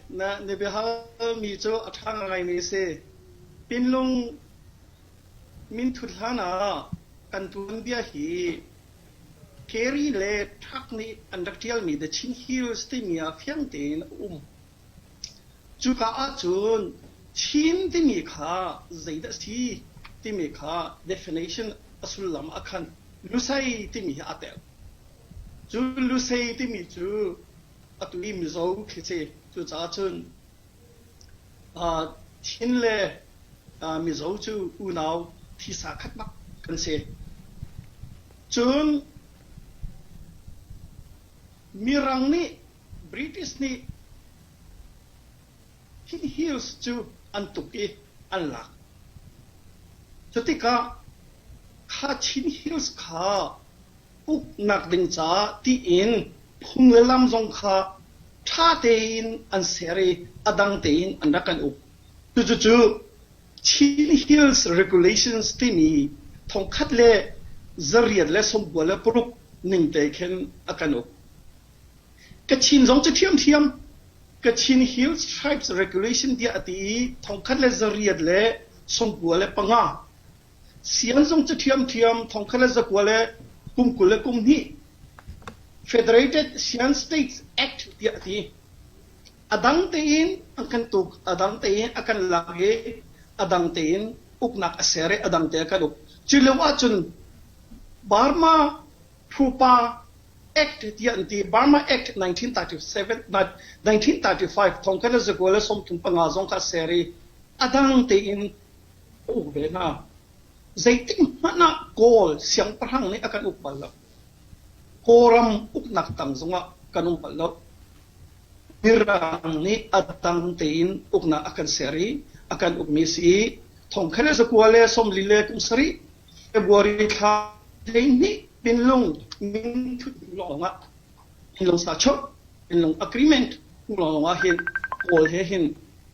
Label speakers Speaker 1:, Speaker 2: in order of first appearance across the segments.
Speaker 1: Na biahalmi cu a ṭha ngaimi a si. Pinlung minthut hlanah kan tuanbia hi Carey le Tuck nih an rak ṭialmi The Chin Hills timi ah fiang tein a um. Cuka ahcun Chin timi kha zeidah a si timi kha definition a sullam ah khan Lusei timi hi aa tel. Cu Lusei timi cu a tu i Mizo thlici. Cucaah cun uh, Chin le uh, Mizo cu unau thisa khatnak kan si. Cun Mirang nih British nih hin hills cu an tuk i an lak. Cutikah kha Chin hills kha uknak ding caah tiin phung le lam zong kha ṭha tein an ser i a dang tein an rak kan uk. Cucucu Chin Hills Regulations timi thongkhat le zariat le sawmkua le paruk ning te khin a kan uk. Kachin zong cu ṭhiamṭhiam Kachin Hills Tribes Regulation tiah a ti i thongkhat le zariat le sawmkua le panga Siang Zung cu ṭhiamṭhiam thongkhat le zakua le kum kul le kum hnih Federated Siang States Act tiah a ti. A dang tein an kan tuk, a dang tein a kan lak i a dang tein uknak a ser i a dang te a kan uk. Cu lio ahcun Burma Phupa Act tiah an ti. Burma Act 1937, 1935 thongkhat le zakua le sawmthum panga zong kha a ser i a dang tein Uk ve hna. Zeitikhmanh ah Kawl siangpahrang nih a kan uk bal lo. Kawlram uknak tang zongah kan um bal lo. Mirang nih a dang tein uknak a kan ser i a kan ukmi a si i thongkhat le zakua le sawmli le kum sarih February thla hleihnih pinlung minthut lawngah Philosachurch in lung agreement hmuh lawng ah hin Kawl he hin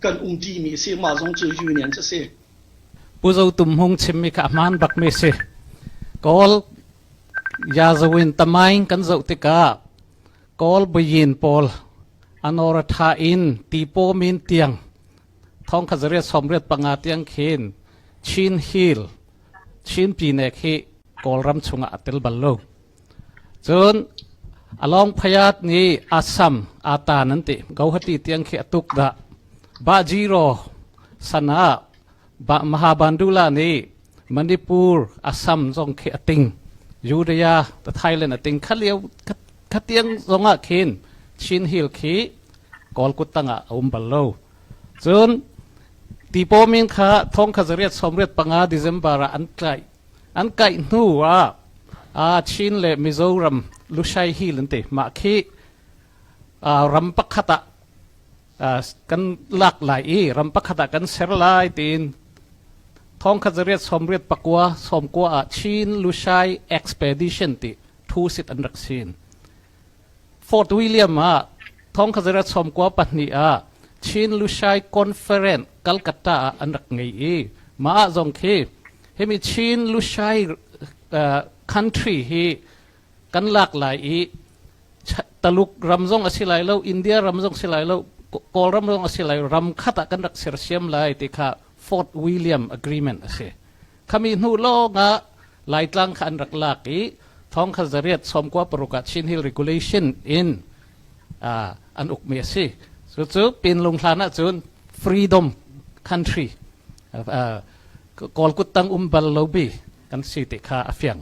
Speaker 1: kan um ṭi mi a si, mah zong cu union cu a si. Pu Zo Tum Hmung chimmi kha a hmaan bakmi a si. Kawl Yazawin Tamaing kan zoh tikah Kawl buyin pawl Anoratha in Tipo min tiang thongkhat zariat sawmriat panga tiang khin Chin Hill, Chin Pinek hi Kawlram chungah a tel bal lo. Cun a lawng phayat nih asam atan an ti gohati tiang khi atuk dah Bajiro san ah Mahabandula nih Manipur asam zong khi ating Judea the Thailand ating khalio khatiang zongah khin Chin Hill khi Kawlkut tangah a um bal lo cun tipomin kha thong kha zariat sawmriat panga December ah an tlaih An kaih hnu ah aa Chin le Mizoram Lushai Hill an ti. Mah khi aa ram pakhat ah aa, kan lak lai i ram pakhat ah kan ser lai tiin thongkhat zariat sawmriat pakua sawmkua ah Chin Lushai Expedition ti thu sit an rak sin. Fort William ah thong khazer a chawmkua pahnih ah Chin Lushai Conference Calcutta ah an rak ngei i mah ah zong khi himi Chin Lushai uh, country hi kan lak lai i Taluk ram zong a si lai lo India ram zong si lai lo Kawlram zong a si lai ram khat ah kan rak sersiam lai ti kha Fort William Agreement a si. Khami hnu lawngah Laitlang kha an rak lak i thawng kha zariat sawmkua paruk ah Chin Hill Regulation in uh, an ukmi a si. Cucu pinlung hlan ahcun freedom country uh, Kawlkut tang um bal lobi kan si ti kha a fiang.